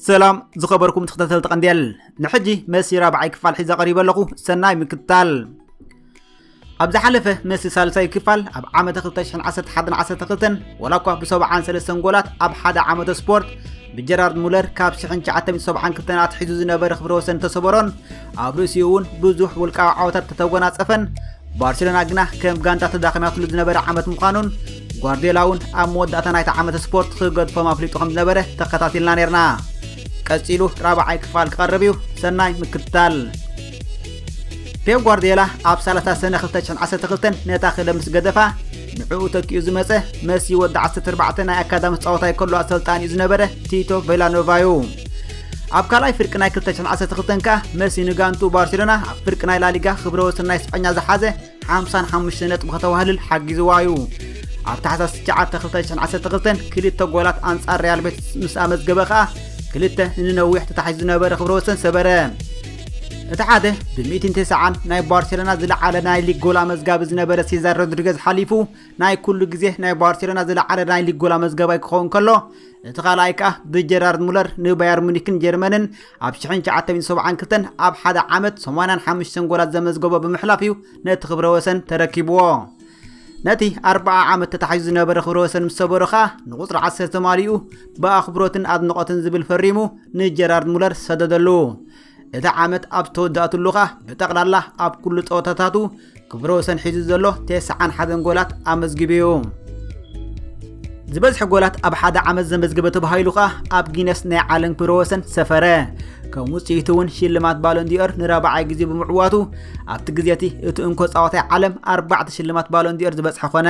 ሰላም ዝኸበርኩም ተኸታተልቲ ቀንዴል ንሕጂ መሲራ በዓይ ክፋል ሒዘ ቀሪበ ኣለኹ ሰናይ ምክትታል ኣብ ዝሓለፈ መሲ ሳልሳይ ክፋል ኣብ ዓመተ 2011 ዓሰርተ ክልተን ወላ እኳ ብሰብዓን ሰለስተን ጎላት ኣብ ሓደ ዓመተ ስፖርት ብጀራርድ ሙለር ካብ 1972 ኣትሒዙ ዝነበረ ክብረ ወሰን ተሰበሮን ኣብ ርእሲኡ እውን ብዙሕ ውልቃዊ ዓወታት ተተጎናጸፈን ባርሴሎና ግና ከም ጋንታ ተዳኺማትሉ ዝነበረ ዓመት ምዃኑን ጓርዲዮላ እውን ኣብ መወዳእታ ናይቲ ዓመተ ስፖርት ክገድፎም ኣፍሊጡ ከም ዝነበረ ተኸታቲልና ነርና ቀጺሉ ራብዓይ ክፋል ክቐርብ እዩ ሰናይ ምክትታል ፔፕ ጓርዲዮላ ኣብ ሳላሳ ሰነ 2012 ነታ ክለብ ምስ ገደፋ ንዕኡ ተኪኡ ዝመፀ መሲ ወዲ 14 ናይ ኣካዳሚ ፃወታ ይከሉ ኣሰልጣኒ እዩ ዝነበረ ቲቶ ቬላኖቫ እዩ ኣብ ካልኣይ ፍርቂ ናይ 2012 ከኣ መሲ ንጋንቱ ባርሴሎና ኣብ ፍርቂ ናይ ላሊጋ ክብረ ወሰን ናይ ስጳኛ ዝሓዘ ሓምሳን ሓሙሽተ ነጥቢ ከተዋህልል ሓጊዝዋ እዩ። ኣብ ታሕሳስ 9 2012 ክልተ ጎላት ኣንጻር ሪያል ቤት ምስ ኣመዝገበ ከኣ ክልተ ንነዊሕ ተታሒዙ ዝነበረ ክብረ ወሰን ሰበረ። እቲ ሓደ ብሚእትን ተስዓን ናይ ባርሴሎና ዝለዓለ ናይ ሊግ ጎል ኣመዝጋቢ ዝነበረ ሴዛር ሮድሪገዝ ሓሊፉ ናይ ኩሉ ግዜ ናይ ባርሴሎና ዝለዓለ ናይ ሊግ ጎል ኣመዝጋባይ ክኸውን ከሎ እቲ ካልኣይ ከኣ ብጀራርድ ሙለር ንባየር ሙኒክን ጀርመንን ኣብ 1972 ኣብ ሓደ ዓመት 85 ጎላት ዘመዝገቦ ብምሕላፍ እዩ ነቲ ክብረ ወሰን ተረኪብዎ ነቲ 40 ዓመት ተታሒዙ ዝነበረ ክብረ ወሰን ምስ ሰበሮ ኸኣ ንቁፅሪ 10 ተማሊኡ ብኣኽብሮትን ኣድንቖትን ዝብል ፈሪሙ ንጀራርድ ሙለር ሰደደሉ እቲ ዓመት ኣብ ዝተወዳእትሉ ከኣ ብጠቕላላ ኣብ ኩሉ ጸወታታቱ ክብረ ወሰን ሒዙ ዘሎ ቴስዓን ሓደን ጎላት ኣመዝጊቡ እዩ። ዝበዝሐ ጎላት ኣብ ሓደ ዓመት ዘመዝገበ ተባሂሉ ከኣ ኣብ ጊነስ ናይ ዓለም ክብረ ወሰን ሰፈረ ከም ውፅኢቱ እውን ሽልማት ባሎንዲኦር ንራብዓይ ግዜ ብምዕዋቱ ኣብቲ ግዜ እቲ እቲ እንኮ ፃወታይ ዓለም ኣርባዕተ ሽልማት ባሎንዲኦር ዝበፅሐ ኮነ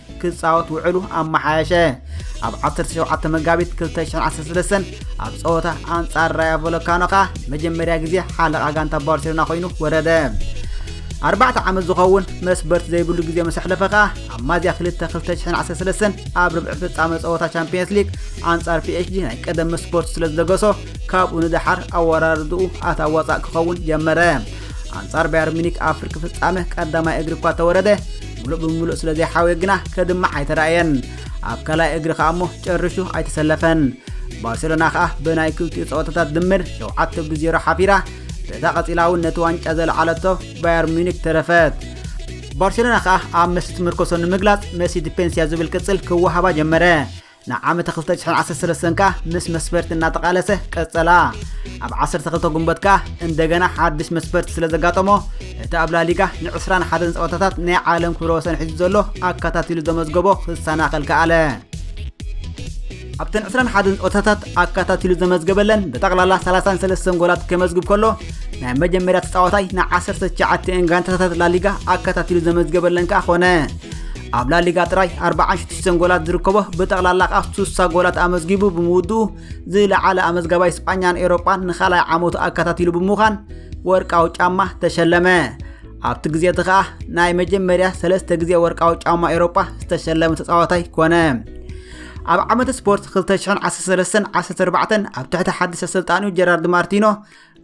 ክጻወት ውዕሉ ኣመሓየሸ። ኣብ 17 መጋቢት 2013 ኣብ ጸወታ ኣንጻር ራያ ቮሎካኖ ከኣ መጀመርያ ግዜ ሓለቓ ጋንታ ባርሴሎና ኮይኑ ወረደ። ኣርባዕተ ዓመት ዝኸውን መስበርቲ ዘይብሉ ግዜ ምስ ኣሕለፈ ከኣ ኣብ ማዝያ 2 2013 ኣብ ርብዒ ፍጻመ ጸወታ ቻምፒየንስ ሊግ ኣንጻር ፒኤችጂ ናይ ቀደም መስበርቱ ስለ ዝደገሶ ካብኡ ንደሓር ኣወራርድኡ ኣታዋጻእ ክኸውን ጀመረ። ኣንጻር ባየር ሚኒክ ኣብ ፍርቂ ፍጻመ ቀዳማይ እግሪ እኳ ተወረደ ምሉእ ብምሉእ ስለ ዘይሓወየ ግና ከድምዕ ኣይተራእየን ኣብ ካልኣይ እግሪ ከኣ እሞ ጨርሹ ኣይተሰለፈን ባርሴሎና ከኣ ብናይ ክልቲኡ ፀወታታት ድምር ሸውዓተ ብዜሮ ሓፊራ በዛ ቀፂላ እውን ነቲ ዋንጫ ዘለዓለቶ ባየር ሚኒክ ተረፈት ባርሴሎና ከኣ ኣብ መሲ ትምርኮሶ ንምግላፅ መሲ ዲፔንስያ ዝብል ቅፅል ክወሃባ ጀመረ ንዓመተ ክልተ ሽሕን ዓሰርተ ሰለስተን ከኣ ምስ መስፈርቲ እናተቓለሰ ቀጸላ። ኣብ ዓሰርተ ክልተ ጉንበት ከኣ እንደገና ሓድሽ መስፈርቲ ስለ ዘጋጠሞ እቲ ኣብ ላሊጋ ንዕስራን ሓደን ጸወታታት ናይ ዓለም ክብረ ወሰን ሒዙ ዘሎ ኣከታቲሉ ዘመዝገቦ ክሰናኸል ከኣለ። ኣብተን 21 ጸወታታት ኣካታቲሉ ዘመዝገበለን ብጠቕላላ 33 ጎላት ከመዝግብ ከሎ ናይ መጀመርያ ተጻዋታይ ን19 ጋንታታት ላሊጋ ኣካታቲሉ ዘመዝገበለን ከኣ ኾነ ኣብ ላሊጋ ጥራይ 46 ጎላት ዝርከቦ ብጠቕላላ ከዓ 60 ጎላት ኣመዝጊቡ ብምውድኡ ዝለዓለ ኣመዝጋባይ ስጳኛን ኤሮጳን ንኻልኣይ ዓመቱ ኣከታቲሉ ብምዃን ወርቃዊ ጫማ ተሸለመ ኣብቲ ግዜ እቲ ከዓ ናይ መጀመርያ ሰለስተ ግዜ ወርቃዊ ጫማ ኤሮጳ ዝተሸለመ ተፃዋታይ ኮነ ኣብ ዓመት ስፖርት 2013 14 ኣብ ትሕቲ ሓድሽ ኣሰልጣኒኡ ጀራርድ ማርቲኖ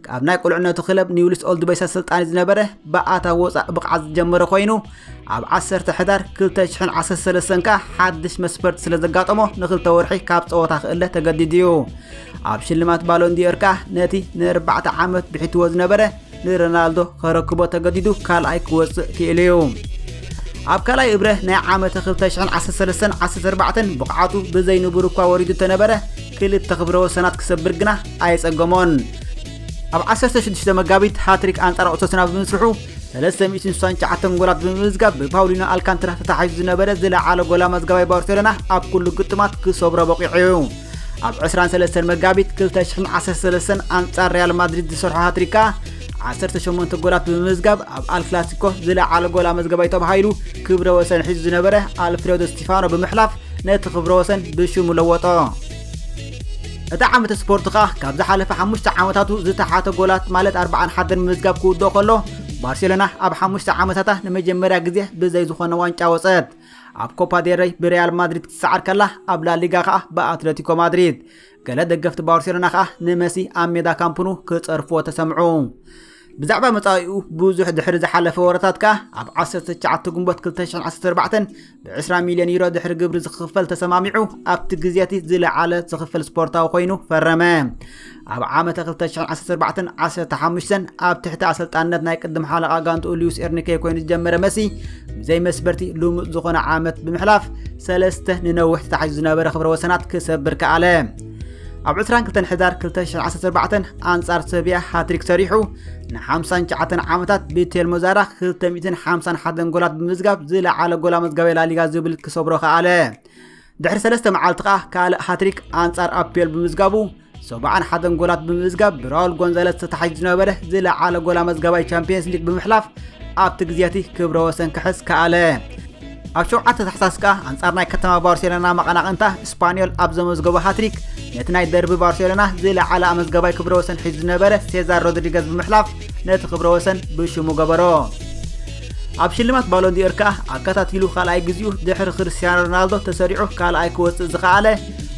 ካብ ናይ ቁልዕነቱ ክለብ ኒውልስ ኦልድ ቦይስ ኣሰልጣኒ ዝነበረ ብኣታ ወፃእ ብቕዓት ዝጀመረ ኮይኑ ኣብ 10 ሕዳር 2013 ከኣ ሓድሽ መስፈርት ስለ ዘጋጠሞ ንክልተ ወርሒ ካብ ፀወታ ክእለ ተገዲዱ እዩ ኣብ ሽልማት ባሎንዲዮር ከኣ ነቲ ንኣርባዕተ ዓመት ብሒትዎ ዝነበረ ንሮናልዶ ከረክቦ ተገዲዱ ካልኣይ ክወፅእ ክኢሉ እዩ ኣብ ካልኣይ እብረ ናይ ዓመተ 2013 14 ብቕዓቱ ብዘይንቡር እኳ ወሪዱ ተነበረ ክልተ ክብረ ወሰናት ክሰብር ግና ኣየጸገሞን። ኣብ 16 መጋቢት ሃትሪክ ኣንጻር ኦሰሱና ብምስርሑ 369 ጎላት ብምምዝጋብ ብፓውሊኖ ኣልካንትራ ተታሒዙ ዝነበረ ዝለዓለ ጎል ኣመዝጋባይ ባርሴሎና ኣብ ኩሉ ግጥማት ክሰብሮ በቂዑ እዩ። ኣብ 23 መጋቢት 2013 ኣንጻር ሪያል ማድሪድ ዝሰርሖ ሃትሪካ 18 ጎላት ብምምዝጋብ ኣብ ኣልክላሲኮ ዝለዓለ ጎል ኣመዝገባይ ተባሂሉ ክብረ ወሰን ሒዙ ዝነበረ ኣልፍሬዶ ስቲፋኖ ብምሕላፍ ነቲ ክብረ ወሰን ብሽሙ ለወጦ። እቲ ዓመተ ስፖርት ከኣ ካብ ዝሓለፈ ሓሙሽተ ዓመታቱ ዝተሓተ ጎላት ማለት ኣርባዓን ሓደን ምምዝጋብ ክውድኦ ከሎ ባርሴሎና ኣብ ሓሙሽተ ዓመታታ ንመጀመርያ ግዜ ብዘይ ዝኾነ ዋንጫ ወፀት ኣብ ኮፓ ዴረይ ብሪያል ማድሪድ ክትሰዓር ከላ ኣብ ላሊጋ ከኣ ብኣትለቲኮ ማድሪድ ገለ ደገፍቲ ባርሴሎና ከኣ ንመሲ ኣብ ሜዳ ካምፕኑ ክጸርፍዎ ተሰምዑ። ብዛዕባ መጻኢኡ ብዙሕ ድሕሪ ዝሓለፈ ወረታት ከኣ ኣብ 19 ግንቦት 2014 ብ20 ሚልዮን ዩሮ ድሕሪ ግብሪ ዝኽፈል ተሰማሚዑ ኣብቲ ግዜ እቲ ዝለዓለ ዝኽፈል ስፖርታዊ ኮይኑ ፈረመ ኣብ ዓመተ 2014 15 ኣብ ትሕቲ ኣሰልጣንነት ናይ ቅድም ሓለቓ ጋንትኡ ሉዊስ ኤርኒኬ ኮይኑ ዝጀመረ መሲ ብዘይ መስበርቲ ልሙፅ ዝኾነ ዓመት ብምሕላፍ ሰለስተ ንነዊሕ ተታሒዙ ዝነበረ ክብረ ወሰናት ክሰብር ከኣለ ኣብ 22 ሕዳር 2014 ኣንጻር ሰብያ ሃትሪክ ሰሪሑ ን59 ዓመታት ቤቴል ሞዛራ 251 ጎላት ብምዝጋብ ዝለዓለ ጎላ መዝጋቢ ላሊጋ ዝብል ክሰብሮ ከኣለ ድሕሪ ሰለስተ መዓልቲ ከኣ ካልእ ሃትሪክ ኣንጻር ኣፒዮል ብምዝጋቡ ሰብዓን ሓደን ጎላት ብምምዝጋብ ብራውል ጎንዛለስ ተታሒዙ ዝነበረ ዝለዓለ ጎል ኣመዝጋባይ ቻምፒየንስ ሊግ ብምሕላፍ ኣብቲ ግዜ እቲ ክብረ ወሰን ክሕዝ ከኣለ ኣብ ሸውዓተ ታሕሳስ ከኣ ኣንጻር ናይ ከተማ ባርሴሎና መቐናቕንታ ስፓኒዮል ኣብ ዘመዝገቦ ሃትሪክ ነቲ ናይ ደርቢ ባርሴሎና ዝለዓለ ኣመዝጋባይ ክብረ ወሰን ሒዙ ዝነበረ ሴዛር ሮድሪገዝ ብምሕላፍ ነቲ ክብረ ወሰን ብሽሙ ገበሮ ኣብ ሽልማት ባሎንዲዮር ከኣ ኣከታቲሉ ካልኣይ ግዜኡ ድሕሪ ክርስትያኖ ሮናልዶ ተሰሪዑ ካልኣይ ክወፅእ ዝኸኣለ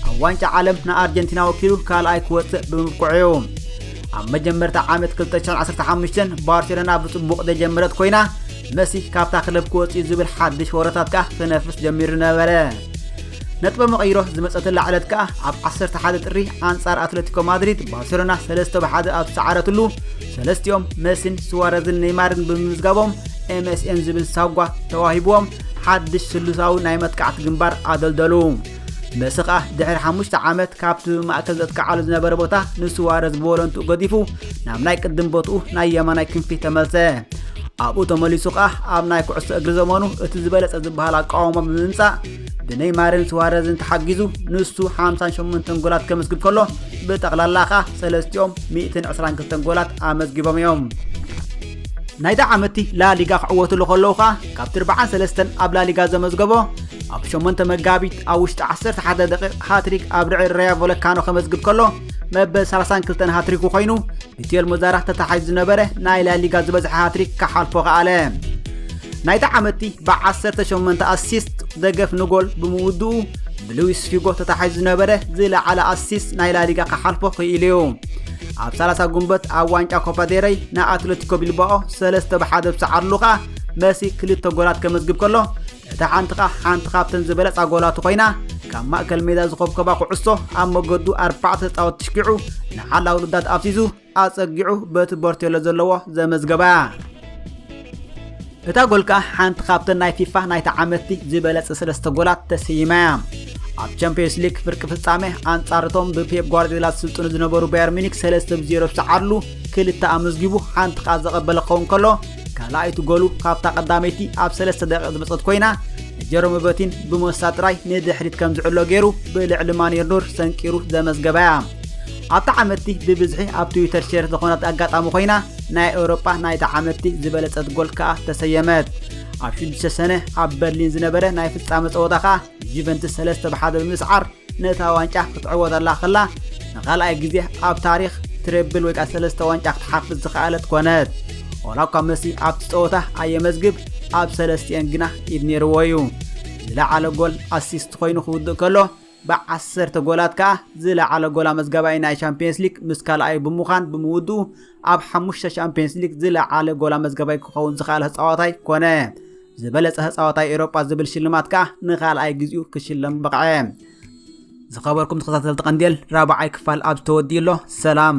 ኣብ ዋንጫ ዓለም ንኣርጀንቲና ወኪሉ ካልኣይ ክወፅእ ብምብቅዑ እዩ ኣብ መጀመርታ ዓመት 215 ባርሴሎና ብፅቡቕ ዘጀመረት ኮይና መሲ ካብታ ክለብ ክወፅኡ ዝብል ሓድሽ ወረታት ከኣ ክነፍስ ጀሚሩ ነበረ ነጥበ መቐይሮ ዝመፀተላ ዕለት ከኣ ኣብ 11 ጥሪ ኣንጻር ኣትለቲኮ ማድሪድ ባርሴሎና 3 ብ1 ኣብ ዝሰዓረትሉ ሰለስቲኦም መሲን ስዋረዝን ኔይማርን ብምምዝጋቦም ኤምኤስኤን ዝብል ሳጓ ተዋሂብዎም ሓድሽ ስሉሳዊ ናይ መጥቃዕቲ ግንባር ኣደልደሉ መሲ ከኣ ድሕሪ ሓሙሽተ ዓመት ካብቲ ማእከል ዘጥቅዓሉ ዝነበረ ቦታ ንስዋረዝ ብወለንትኡ ገዲፉ ናብ ናይ ቅድም ቦትኡ ናይ የማናይ ክንፊ ተመልሰ ኣብኡ ተመሊሱ ከኣ ኣብ ናይ ኩዕሶ እግሪ ዘመኑ እቲ ዝበለጸ ዝበሃል ኣቃውማ ብምምጻእ ብነይማርን ስዋረዝን ተሓጊዙ ንሱ 58 ጎላት ከመስግብ ከሎ ብጠቕላላ ከኣ ሰለስቲኦም 122 ጎላት ኣመዝጊቦም እዮም ናይዚ ዓመትቲ ላሊጋ ክዕወትሉ ከለዉ ከኣ ካብ ትርብዓን ሰለስተን ኣብ ላሊጋ ዘመዝገቦ ኣብ 8 መጋቢት ኣብ ውሽጢ 11 ደቂቕ ሃትሪክ ኣብ ርዕድ ራያ ቮለካኖ ከመዝግብ ከሎ መበል 32 ሃትሪኩ ኮይኑ ብቴል ሞዛራህ ተታሓይዙ ዝነበረ ናይ ላሊጋ ዝበዝሐ ሃትሪክ ክሓልፎ ከኣለ ናይቲ ዓመቲ ብ18 ኣሲስት ደገፍ ንጎል ብምውድኡ ብሉዊስ ፊጎ ተታሓይዙ ዝነበረ ዝለዓለ ኣሲስት ናይ ላሊጋ ክሓልፎ ክኢሉ እዩ ኣብ 30 ጉንበት ኣብ ዋንጫ ኮፓዴረይ ንኣትለቲኮ ቢልባኦ 3 ብ1 ብሰዓርሉ ከኣ መሲ ክልተ ጎላት ከመዝግብ ከሎ እታ ዓንትኻ ሓንቲ ካብተን ዝበለጻ ጎላቱ ኮይና ካብ ማእከል ሜዳ ዝኾብከባ ኩዕሶ ኣብ መገዱ ኣርባዕተ ተጻወት ትሽኪዑ ንሓላ ውልዳት ኣፍሲሱ ኣጸጊዑ በቲ ቦርቴሎ ዘለዎ ዘመዝገባ እታ ጎል ከኣ ሓንቲ ካብተን ናይ ፊፋ ናይ ተዓመትቲ ዝበለጸ ሰለስተ ጎላት ተሰይማ እያ ኣብ ቻምፒዮንስ ሊግ ፍርቂ ፍጻመ ኣንጻርቶም ብፔፕ ጓርዲዮላ ዝስልጥኑ ዝነበሩ ባየር ሚኒክ 3 ብ0 ዝሰዓርሉ ክልተ ኣመዝጊቡ ሓንቲ ከኣ ዘቐበለ ክኸውን ከሎ ካልኣይቲ ጎሉ ካብታ ቀዳመይቲ ኣብ ሰለስተ ደቂቕ ዝመፀት ኮይና ጀሮሚ በቲን ብሞሳ ጥራይ ንድሕሪት ከም ዝዕሎ ገይሩ ብልዕሊ ማንየር ኑር ሰንቂሩ ዘመዝገባ እያ ኣብቲ ዓመትቲ ብብዝሒ ኣብ ትዊተር ሼር ዝኾነት ኣጋጣሚ ኮይና ናይ ኤውሮጳ ናይቲ ዓመትቲ ዝበለጸት ጎል ከኣ ተሰየመት ኣብ ሽዱሽተ ሰነ ኣብ በርሊን ዝነበረ ናይ ፍጻመ ጸወታ ከኣ ጁቨንትስ ሰለስተ ብሓደ ብምስዓር ነታ ዋንጫ ክትዕወተላ ከላ ንኻልኣይ ግዜ ኣብ ታሪኽ ትሬብል ወይ ከኣ ሰለስተ ዋንጫ ክትሓፍስ ዝኸኣለት ኮነት። ዋላ እኳ መሲ ኣብቲ ጸወታ ኣየመዝግብ ኣብ ሰለስቲኤን ግና ኢድ ነይርዎ እዩ። ዝለዓለ ጎል ኣሲስት ኮይኑ ክውድእ ከሎ ብዓሰርተ ጎላት ከኣ ዝለዓለ ጎል ኣመዝጋባይ ናይ ሻምፕዮንስ ሊግ ምስ ካልኣዩ ብምዃን ብምውድኡ ኣብ ሓሙሽተ ሻምፕዮንስ ሊግ ዝለዓለ ጎል ኣመዝጋባይ ክኸውን ዝኸኣለ ተጻዋታይ ኮነ። ዝበለጸ ተጻዋታይ ኤውሮጳ ዝብል ሽልማት ከኣ ንኻልኣይ ግዜኡ ክሽለም በቕዐ። ዝኸበርኩም ተኸታተልቲ ቀንዴል ራብዓይ ክፋል ኣብ ዝተወድዩ ኣሎ። ሰላም